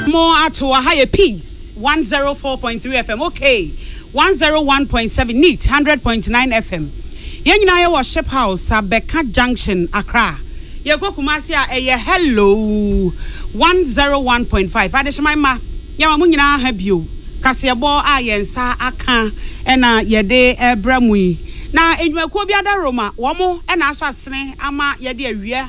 Mo ato aha yɛ peace one zero four point three FM ok one zero one point seven neat hundred point nine FM yɛn nyinaa yɛ wɔ ship house abɛka junction accra yɛ kɔ kumasi a ɛyɛ hello one zero one point five adehyeman mma yɛ ma mo nyinaa aha bio kaseɛbɔ a yɛn nsa aka ɛna yɛde ɛbrɛ mo yi na nnwumakuo bi ada roma wɔn ɛna asɔ asene ama yɛde awia.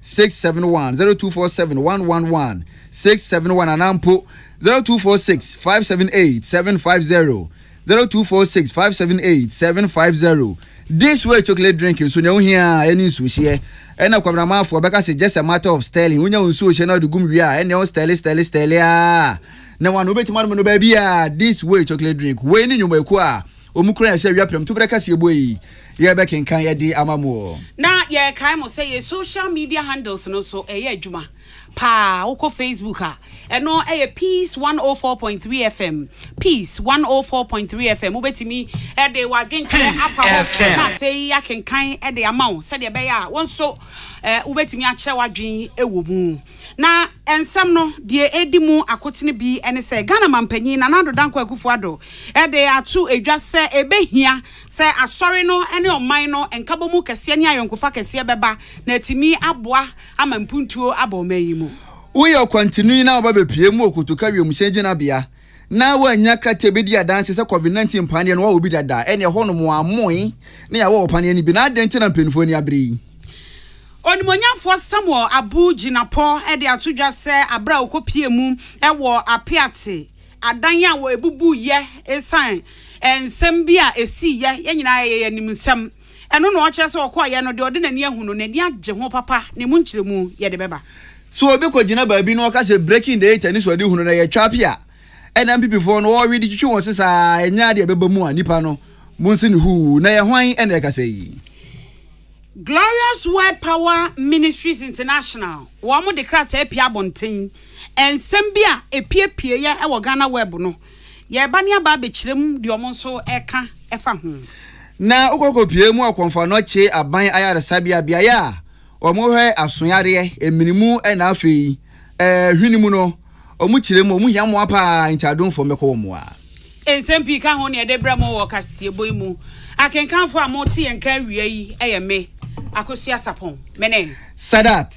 six seven one zero two four seven one one one six seven one anaa mpo zero two four six five seven eight seven five zero zero two four six five seven eight seven five zero this way chocolate drink nso nea ohia ɛne nsuohyɛ ɛna kwabramafoɔ bɛka sɛ just a matter of sterling wonya wo nsuohyɛ na ɔde gum wie a ɛnea wo sterling sterling sterling a na wɔn a wobɛtumi anum no baabi a this way chocolate drink wei ne nnwumakuo a Wɔn kura yɛ sɛ awia prɛm tuberɛ kɛseɛ bɔ yi, yɛrebɛkenkan ɛde ama mo wɔ. Na yɛrekae mo sɛ yɛn social media handles no nso ɛyɛ adwuma paa. Wokɔ Facebook a, ɛno yɛ Peace one oh four point three FM, Peace one oh four point three FM. Wobɛtumi de w'adwenkyerɛ afa hɔ na afei yɛakenkan de ama wo sɛdeɛ ɛbɛyɛ a wo nso wobɛtumi akyerɛ w'adwene wɔ mu. Na nsɛm no deɛ ɛdi mu akotene bi ne sɛ, Ghana Mampanyin Nana Addo Dankwa Akufo-Addo de ato dwa sɛ ɛbɛhia sɛ Asɔre no ne ɔman no nkabɔmu kɛseɛ ne ayɔnkofa kɛseɛ bɛba na atumi aboa ama mpuntuo aba ɔman yi mu. Woyɛ ɔkwantinonyi na woaba bepue mu wɔ Kotoka Wiemhyɛn Gyinabea. na wɔannya krataa bi di adanse sɛ COVID-19 mpaneɛ no wɔ obi dada a, ɛnneɛ ɛhɔ nom wɔammoe na yɛawɔ ɔpaneɛ no bi. Na adɛn nti na mpanimfoɔ ani abere yi? Onimuonyamfoɔ Samuel Abu Jinapor de ato dwa sɛ bere a ɔkɔpuee mu wɔ Apeate adan a ɛbubuiɛ ɛsiane nsɛm bi a ɛsiiɛ yɛn nyinaa ɛyɛ yɛn anim nsɛm. Ɛno na ɔkyerɛ sɛ ɔkɔeɛ no, deɛ ɔde n'ani ahu no, n'ani agye ho papa, na ɛmu nkyerɛmu yɛde bɛba. Sɛ obi kɔgyina baabi na ɔka sɛ breaking the eight anisoadehunu na ɛyɛ twape a, ɛna NPP foɔ no wɔwe de twitwi wɔn se saa, ɛnyɛ adeɛ a ɛbɛba mu a nipa no mu nse no huu, na ɛyɛ hwan na ɛkasa yi? Glorious Word Power Ministries International, wɔn de krataa pie abɔnten, nsɛm bi a ɛpiepiieɛ wɔ Ghana Web no, Yɛn ba ne aba abɛkyerɛ mu deɛ wɔn nso reka fa ho. Na wokɔ kɔpue mu ɔkɔmfo anɔkye aban ayaresabea, beaeɛ a wɔhwɛ asoyareɛ, emene mu na afei hwene mu no, wɔkyerɛ mu, wɔhia mmoa pa ara nti adomfoɔ mmɛkɔ wɔn mmoa. Nsɛm pii ka ho na yɛde brɛ mo wɔ kaseɛbɔ yi mu. Akenkanfoɔ a mote yɛn nka awia yi yɛ me, Akosua Sapɔn. Mene. Sadat.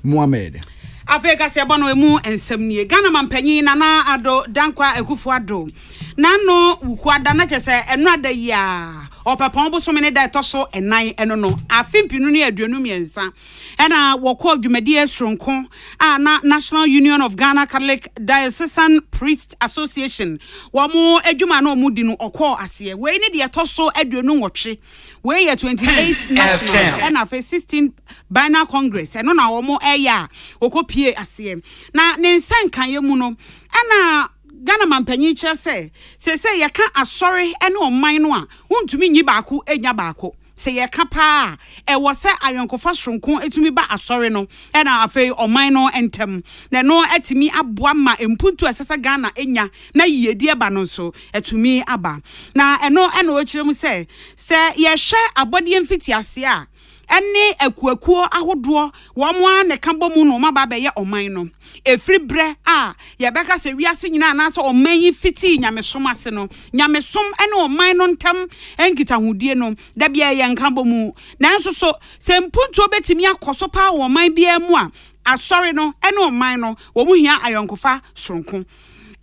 Mohammed. Afei kaseɛbɔ no emu nsɛm nie, Ghana Mampanyin Nana Addo Dankwa Akufo Addo n'ano wukuada na kyɛsɛ ɛno ada yi a Ɔpɛpɔn bosome ne da ɛtɔ so ɛnan ɛno no afe mpenu ne aduonu mmiɛnsa ɛna wɔkɔɔ dwumadie soronko a na National Union of Ghana Catholic Diocesan Priests Association wɔn adwuma na wɔn di no ɔkɔɔ aseɛ wei ne deɛ ɛtɔ so aduonu nwɔtwe wei yɛ 28 national ɛna afei 16 Bienal Congress, ɛno na wɔn ɛyɛ a wɔkɔ pie aseɛ. Na ne nsa nkaeɛ mu no, ɛna Ghana mampanyin kyerɛ sɛ, seesei yɛka Asɔre ne ɔman no a, wontumi nyi baako nya baako. Sɛ yɛka paa a, ɛwɔ sɛ ayɔnkofa soronko tumi ba Asɔre no na afei ɔman no ntam. Na ɛno atumi aboa ma mpuntuo a ɛsɛ sɛ Ghana nya na yiedie ba no nso atumi aba. Na ɛno na ɔkyerɛ mu sɛ, sɛ yɛhwɛ abɔdeɛ mfitiaseɛ a, ne akuakuo ahodoɔ, wɔn ara na ɛka bɔ mu na wɔaba abɛyɛ ɔman no. Ɛfiri berɛ a yɛbɛka sɛ wiase nyinaa anaasɛ ɔman yi fitii nyamesom ase no, nyamesom ne ɔman no ntam nkitahodie no, da biara ɛyɛ nkabɔmu. Nanso so sɛ mpuntuo bɛtumi akɔ so paa wɔ ɔman biara mu a, Asɔre no ne ɔman no, wɔn hia ayɔnkofa sononko.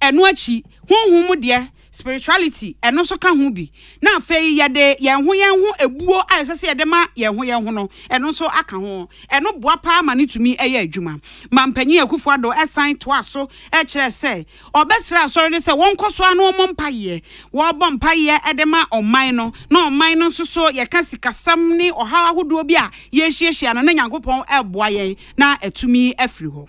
Ɛno akyi, honhom mu deɛ, Spirituality, ɛno nso ka ho bi. Na afei yɛde yɛn ho yɛn ho ebuo a ɛsɛ sɛ yɛde ma yɛn ho yɛn ho no, ɛno nso aka ho. Ɛno boa paa ma ne tumi yɛ adwuma. Mampanyin Akufo-Addo san toa so kyerɛ sɛ, ɔbɛsrɛ Asɔre no sɛ wɔnkɔ so ara na wɔmmɔ mpaeɛ. Wɔbɔ mpaeɛ de ma ɔman no, na ɔman no nso so yɛka sikasɛm ne ɔhaw ahodoɔ bi a yɛrehyiahyia no na Nyankopɔn boa yɛn na atumi afiri hɔ.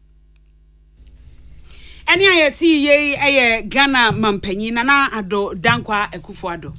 Ɛnne a yɛte yiye yi yɛ Ghana mampanyin Nana Addo Dankwa Akufo-Addo.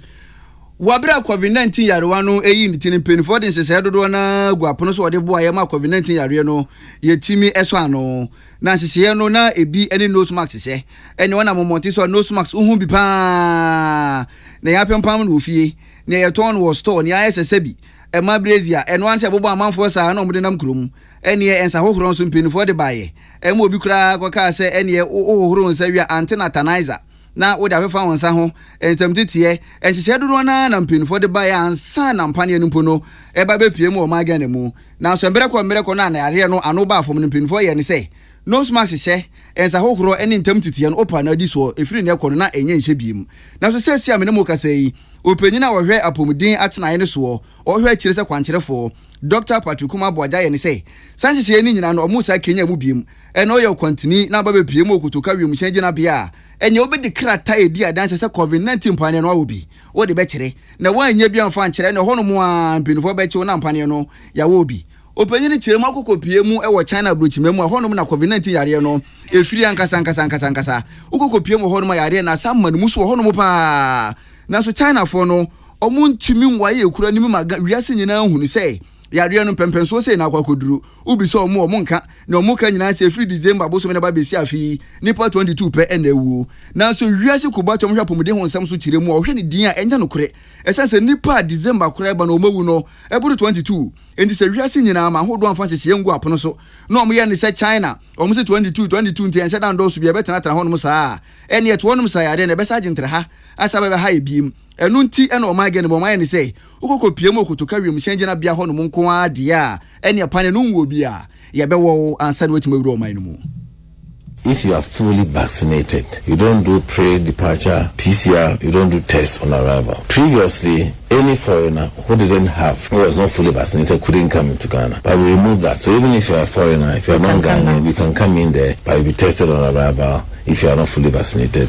Wɔ bere a COVID-19 yarewa no eyi ne ti no, mpanyinfoɔ de nhyehyɛe dodoɔ no ara gu apono so a wɔde boaeɛ ma COVID-19 yareɛ no yɛtumi sɔ ano. Na nhyehyɛeɛ no na ebi ne nose mask hyehyɛ. Ɛnne wɔnam mmɔnten so a nose mask wohu bi pa ara. Nea yɛapempam no wɔ fie, nea yɛtɔn no wɔ store, nea ayɛ sɛ sɛbi ɛma brazia. Ɛno ara ne sɛ ɛbobɔ amanfoɔ saa na wɔde nam kurom. Ɛnneɛ nsa hohoro nso mpanimfoɔ de baeɛ. Ɛma obi koraa kɔkaa sɛ, Ɛnneɛ wohohoro wo nsa wie a, ante na Tanizer na wode afefa wo nsa ho? Nsɛmteteɛ, Nhyehyɛeɛ dodoɔ no ara na mpanimfoɔ de baeɛ ansa na mpaneɛ no mpo no reba abɛpue mu wɔ ɔman Ghana mu. Nanso mmerɛ kɔ mmerɛ kɔ no a na yareɛ no ano baa fam no, mpanimfoɔ yɛɛ ne sɛ nose mask hyehyɛ, nsa hohoro ne ntam teteɛ no opa na di soɔ. Ɛfiri nnɛ kɔ no na ɛnyɛ nhyɛ bio. Nanso seesei a me ne mo rekasa yi, ɔpanyin a ɔhwɛ apɔmuden atenaeɛ no soɔ, ɔhwɛ akyire sɛ kwankyerɛfoɔ, Dɔkta Patrick Kumar bɔ agyaeɛ ne sɛ, saa nhyehyɛeɛ no nyinaa no wɔnsan kanyan mu biom. Ɛnnɛ ɔyɛ ɔkwantuni na aba bɛpue mu wɔ Kotoka Wiemhyɛn Gyinabea a ɛnyɛ wobɛdi krataa a ɛdi adanseɛ sɛ Covid 19 mpaneɛ no awɔ bi wode bɛkyerɛ na woannya bi amfa ankyerɛ ɛna ɛhɔ nom ara mpaninfoɔ bɛkyew na mpaneɛ no yɛawɔ bi. Ɔpanyini Kyeremu akɔkɔpue mu wɔ China aburokyima mu a ɛhɔ nom na Covid 19 yareɛ no ɛfiri ankasa ankasa ankasa ankasa. Wokɔkɔpue mu wɔ hɔ nom a yareɛ no asan ma no mu so wɔ hɔ nom pa ara. Nanso Chinafoɔ no, wɔntumi nwae akura no mu ma wiase nyinaa nhunu sɛ yareɛ no mpɛmpɛnsoɔ sei na akɔ akɔduru. Wobisa wɔn a, wɔnka. Nea wɔka nyinaa ne sɛ ɛfiri December bosome no ba bɛsi afe yi, nnipa 22 pɛ na awuo. Nanso wiase kubɔtoam hwɛ apɔmuden ho nsɛm so kyerɛ mu a wɔhwɛ no dinn a, ɛnyɛ nokorɛ. Ɛsiane sɛ nnipa a December koraa ɛba na wɔawu no boro 22 nti, sɛ wiase nyinaa ma ahodoɔ amfa nhyehyeɛ angu apono so na wɔyɛ no sɛ China, wɔn se 22, 22 nti ɛnhyɛ da nnɔɔso bio, ɛbɛtenatena hɔnom saa a, ɛnneɛ ɛte hɔnom saa a, ɛdeɛn na ɛbɛsa agye ntraha? asan bɛba ha ebiem. Ɛno nti na wɔn adwene no ma wɔayɛ no sɛ wokɔkɔpia mu wɔ kotoka wiemhyɛn gyinabea hɔnom nko ara deɛ a ɛnneɛ pane no nwoɔ bi a yɛbɛwɔ wo ansa na woatumi awura ɔman no mu. If you are fully vaccinated, you don't do pre-departure PCR, you don't do test on arrival. Previously, any foreigner who didn't have or was not fully vaccinated couldn't come into Ghana, but we removed that. So even if you are a foreigner, if you are non-Ghanaian, you can come in there, but you'll be tested on arrival if you are not fully vaccinated.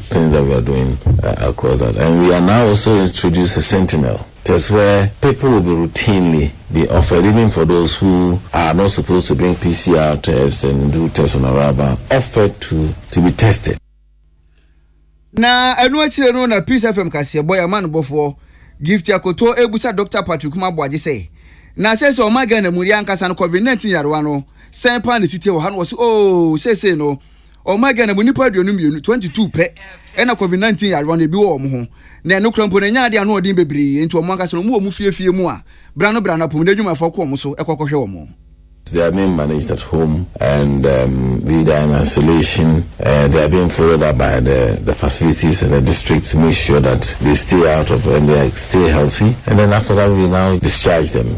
things that we are doing across that and we are now also introduce a sentinel just where people will be routinely be offered even for those who are not supposed to bring PCR test and do test on arrival are offered to to be tested. Na ɛno akyire no na Peace FM kaseɛbɔ yɛ ama no bɔfoɔ Gift Akoto ɛbusa Dɔkta Patrick Kuma Boagye sɛ na sɛsɛ ɔma Ghana mu deɛ ankasa no COVID-19 yarewa no sɛn paa ne site wɔ ha no wɔ se oo sɛsɛ no Oh my Ghana mu nnipa aduonu mmienu, twenty two, pɛ ɛna covid nineteen yarewa no ebi wɔ wɔn ho na ɛno kora mpo no ɛnyɛ ade ano ɔden bebree enti wɔn ankasa no wɔn wɔ wɔn fie fie mu a bra no bra no apɔmuden adwumayɛfoɔ kɔ wɔn so ɛkɔ kɔhwɛ wɔn. They are being managed at home and um, be they are in isolation, uh, they are being followed up by the, the facilities and the district to make sure that they stay out of and they stay healthy. And then after that, we now discharge them.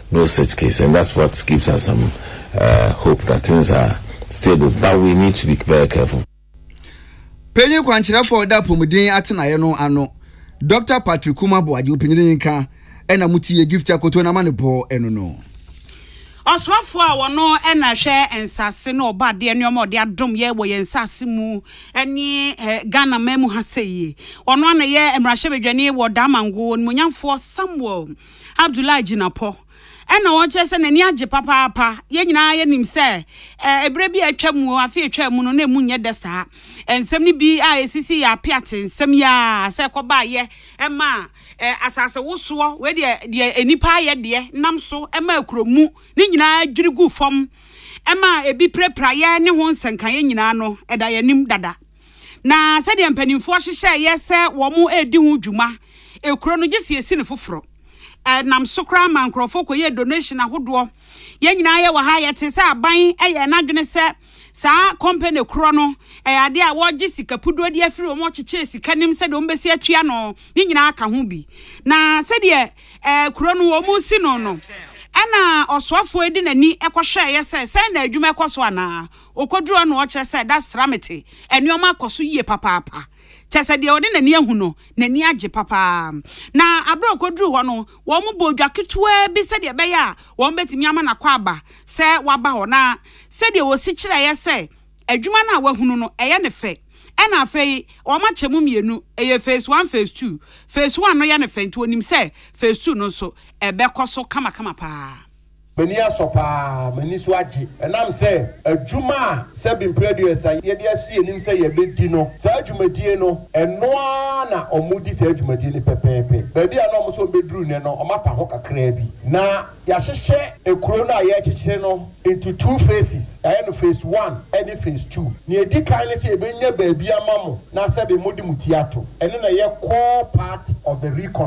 No such case and that's what gives us some uh, hope that things are stable but we need to be very careful. Panyin kwankyerɛfo a ɔda apɔmuden atenaeɛ no ano Dr. Patrick Kuma Boagye ɔpanyin yi nka ɛna mo ti yɛ gift akoto na ma ne bɔ ɛno no. Ɔsomafoɔ a wɔno na hwɛ nsase na ɔba adeɛ nneɛma ɔde adom yɛ wɔ yɛn nsase mu ne eh, Ghana man mu ha sɛ yie. Ɔno na yɛ mmarahyɛbadwani wɔ Damango, onimonyamfoɔ Samuel Abdullahi Jinapɔ na ɔkyerɛ sɛ n'ani agye papaapa. Yɛn nyinaa yɛnim sɛ eh, berɛ bi a atwa mu o, afe a atwaa mu no, na emu nyɛ dɛ saa. Eh, nsɛm no bi a ɛsisi yɛ apeate nsɛm yi a sɛ ɛkɔbaeɛ ɛma eh, asase wosoɔ, wei deɛ deɛ nnipa ayɛ deɛ nam so ɛma kuro mu no nyinaa dwiri gu fam, ɛma ebi pirapireeɛ ne ho nsɛnkaeɛ nyinaa no, ɛda yɛn anim dada. Na sɛdeɛ mpanimfoɔ hyehyɛeɛ sɛ wɔredi ho dwuma, ekuro no gye sɛ yɛsi no foforɔ. Ɛnam so koraa ma nkurɔfoɔ kɔyɛɛ donation ahodoɔ. Yɛn nyinaa yɛwɔ ha a, yɛtee sɛ aban yɛ wɔn adwene sɛ saa company korɔ no, ɛyɛ adeɛ a wɔgye sika puduo de afiri wɔn, wɔkyekyɛɛ sika no mu sɛdeɛ wɔbɛsi atua no, ne nyinaa ka ho bi. Na sɛdeɛ ɛɛ kuro no wɔresi no no, ɛna ɔsoafoɔ yi de n'ani kɔhwɛeɛ sɛ sɛn na adwuma rekɔ so anaa. Okoduru hɔ na ɔkyerɛ sɛ da sramete nneɛma akɔ so yie papaapa. Kyerɛ sɛ deɛ ɔde n'ani ahu no, n'ani agye papaa. Na berɛ a ɔkɔduruu hɔ no, wɔbɔɔ dwa ketewaa bi sɛdeɛ ɛbɛyɛ a wɔbɛtumi ama no akwaaba sɛ waba hɔ. Na sɛdeɛ wɔsi kyerɛeɛ sɛ adwuma no a wahunu no, ɛyɛ no fɛ. Ɛnna afei wɔakyɛ mu mmienu, ɛyɛ phase one, phase two. Phase one no yɛ no fɛ, nti ɔnim sɛ phase two no nso, ɛbɛkɔ so kamakama paa. M'ani asɔ paa, m'ani so agye ɛnam sɛ adwuma a sɛbi mprɛduasa yɛde asi yɛn anim sɛ yɛbɛdi no, saa dwumadie no, ɛno ara na wɔdi saa dwumadie no pɛpɛɛpɛ. Baabi a na wɔsɛ wɔbɛduru nnɛ no, wɔapa ho kakraa bi. Na yɛahyehyɛ kuro no a yɛrekyekyere no into two phases, yɛayɛ no phase one ne phase two. Nea ɛdi kan ne sɛ yɛbɛnya baabi ama mo na sɛbe mode mo ti ato, ɛno na ɛyɛ core part of the reconstruction.